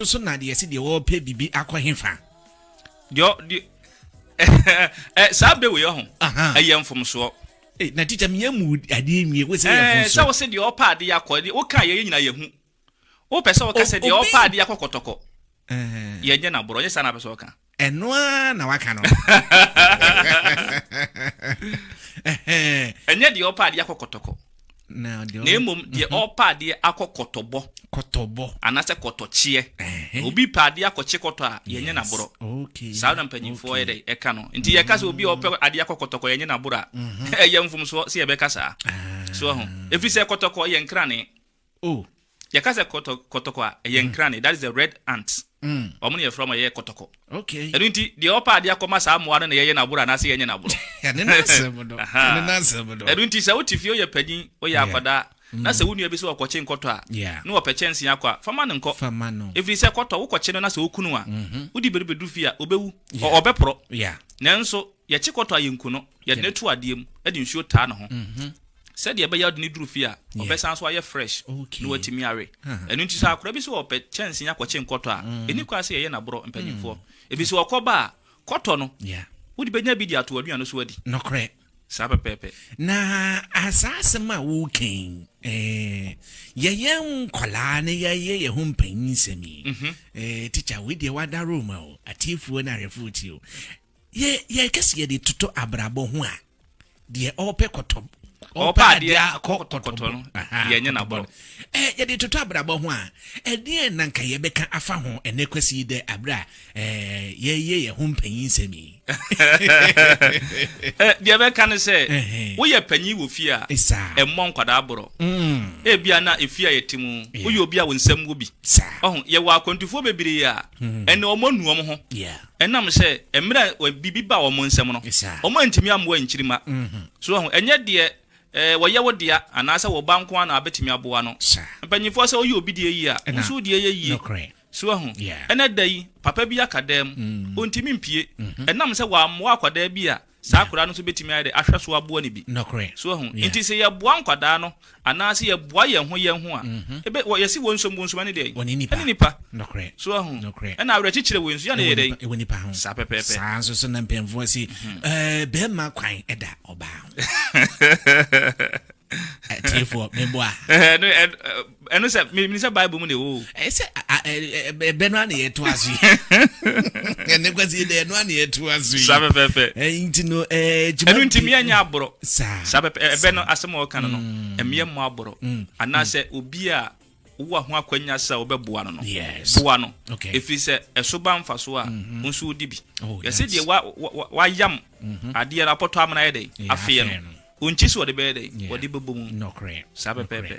So na deɛ ɛsi deɛ wɔrepɛ biribi akɔ hefa? Deɛ deɛ eh, saa bɛ wei ɔho ɛyɛ mfomsoɔ. Eh, na tikya mi yɛ mu adeɛ nwie wo sɛ yɛ eh, mfomsoɔ. Sɛ wo sɛ deɛ ɔpa adeɛ akɔ deɛ woka yɛ nyina yɛ hu. Wopɛ sɛ wɔka sɛ deɛ ɔpa adeɛ akɔ kɔtɔkɔ. Yɛ nyɛ na borɔ nyɛ saa na apɛ sɛ ɔka. Ɛno ara na waka no. Ɛnyɛ deɛ ɔrepɛ adeɛ akɔ kɔtɔkɔ, na mmom deɛ ɔrepɛ adeɛ akɔ kɔtɔbɔ. Kɔtɔbɔ. Anaasɛ kɔtɔkyeɛ. Obi repɛ adeɛ akɔkye kɔtɔ a, yɛnyɛ no aborɔ. Saa na mpanimfoɔ yɛ dɛn? Ɛka no. Nti yɛka sɛ obi a ɔrepɛ adeɛ akɔ kɔtɔkɔ, yɛnyɛ no aborɔ a, ɛyɛ mfomsoɔ sɛ yɛbɛka saa. So ahu? Ɛfiri sɛ kɔtɔkɔ yɛ nkrane. Oh yɛka sɛ kɔtɔ kɔtɔkɔ a ɛyɛ mm. nkrane that is the red ant mm. wɔn na yɛfrɛ wɔn yɛ kɔtɔkɔ okay ɛno nti deɛ ɔpa adeɛ akɔma saa mmoa no na yɛyɛ n'aboro anaasɛ yɛnyɛ n'aboro ɛne n'asɛm no ɛne n'asɛm no ɛno nti sɛ wote fie woyɛ panyin woyɛ akwadaa mm. na sɛ wo nua bi sɛ ɔkɔkye nkɔtɔ a ne wɔpɛ kyɛnse akɔ a fama no nkɔ ɛfiri sɛ kɔtɔ wokɔkye no na sɛ wokunu a mm-hmm. wode bɛdu bɛdu fie a ɔbɛwu ɔbɛporɔ nanso Yɛkye kɔtɔ a, yenku no. Yɛde no to adeɛ mu de nsuo taa ne ho sɛdeɛ ɛbɛyɛ a wode no duru fie a, ɔbɛsan so ayɛ fresh na watumi awe. Ɛno nti sɛ akwadaa bi sɛ ɔpɛ kyɛnsee akɔkye nkɔtɔ a, ɛnni kwan sɛ yɛyɛ no aborɔ, mpanimfoɔ. Ɛfiri sɛ ɔkɔ ba a, kɔtɔ no, wode bɛnya bi de ato w'aduane no so adi. Nokorɛ. Saa pɛpɛɛpɛ. Na saa asɛm a woreka yi, yɛyɛ nkwadaa na yɛayɛ yɛn ho mpanyinsɛm yi, tikya, wei deɛ woada Roma o, atiefoɔ ne ahwɛfoɔ tie o, Yɛ yɛn kɛse yɛde totɔ abrabɔ ho a deɛ ɔpɛ kɔtɔ ɔpɛ adeɛ akɔ kɔtɔ no deɛ nyɛ n'abɔ no ɛɛ yɛde totɔ abrabɔ ho a ɛdeɛ na nka yɛbɛka afa ho ɛnɛ kwasi yi dɛ abere a ɛɛ yɛyɛ yɛn ho mpanyin nsɛm yi. Eh, deɛ bɛka ne sɛ Ɛhɛn. woyɛ panyin wɔ fie a Saa. ɛmmɔ nkwadaa borɔ Mm, ebia na efie a yɛte mu Yeah. woyɛ obi a wo nsɛm wɔ bi saa. ɔho yɛwɔ akwantufoɔ bebree a ɛne ɔmɔ nu ɔm ho Yeah. Ɛnam sɛ mmerɛ a biribi baa wɔn nsam no, wɔantumi ammoa nkyirimma. So woahu? Ɛnyɛ deɛ wɔyɛ wo dea anaasɛ wo ba nko ara na wabɛtumi aboa no. Mpanimfoɔ, sɛ woyɛ obi deɛ yie a, wo nso wo deɛ yɛ yie. So woahu? Ɛnnɛ da yi, papa bi aka dam, ɔntumi mpue, ɛnam sɛ wammoa akwadaa bi a Saa akwadaa no nso bɛtumi ayɛ dɛ ahwɛ so aboa no bi. Nokorɛ. So wahu? Yeah. Nti sɛ yɛboa nkwadaa no anaa sɛ yɛboa yɛn ho yɛn ho a, mm-hmm. ebe, wɔ, yɛsi wɔn nsom, wɔn nsom ɛne dɛn? Wɔne nipa. Ɛne nipa. Nokorɛ. So wahu? Nokorɛ. Ɛna awerɛkyekyerɛ wɔ nsu, yɛn na yɛ dɛn? Ɛwɔ nipa ho. Saa pɛpɛɛpɛ. Saa nso so na mpanyinfoɔ si, mm-hmm. ɛɛ eh, bɛrima kwan ɛda ɔbaa ho. Atiefoɔ, meboa. Eh, eh, Ɛno sɛ menim sɛ Bible mu na ɛwɔ o. Ɛyɛ sɛ ɛbɛ no a na yɛto aso yi. Ɛnɛ kwasi dɛ ɛno a na yɛto aso yi. Saa pɛpɛɛpɛ. Nti no ɛgyima. Ɛno nti mmea nyɛ aborɔ. Saa. Saa pɛpɛ ɛbɛ no asɛm a ɔka no no mm. mmea mmɔ aborɔ. Mm. Anaasɛ mm. obi a wowɔ ho akwanya sɛ wobɛboa no no boa no ɛfiri sɛ ɛso ba mfa so a wo mm-hmm. nso wodi bi oh, yɛsɛ deɛ wayam mm-hmm. adeɛ no apɔtɔ amena yɛ dɛn afeɛ no ɔnkyi so wɔde bɛyɛ dɛn wɔde bɛbɔ mu saa pɛpɛpɛ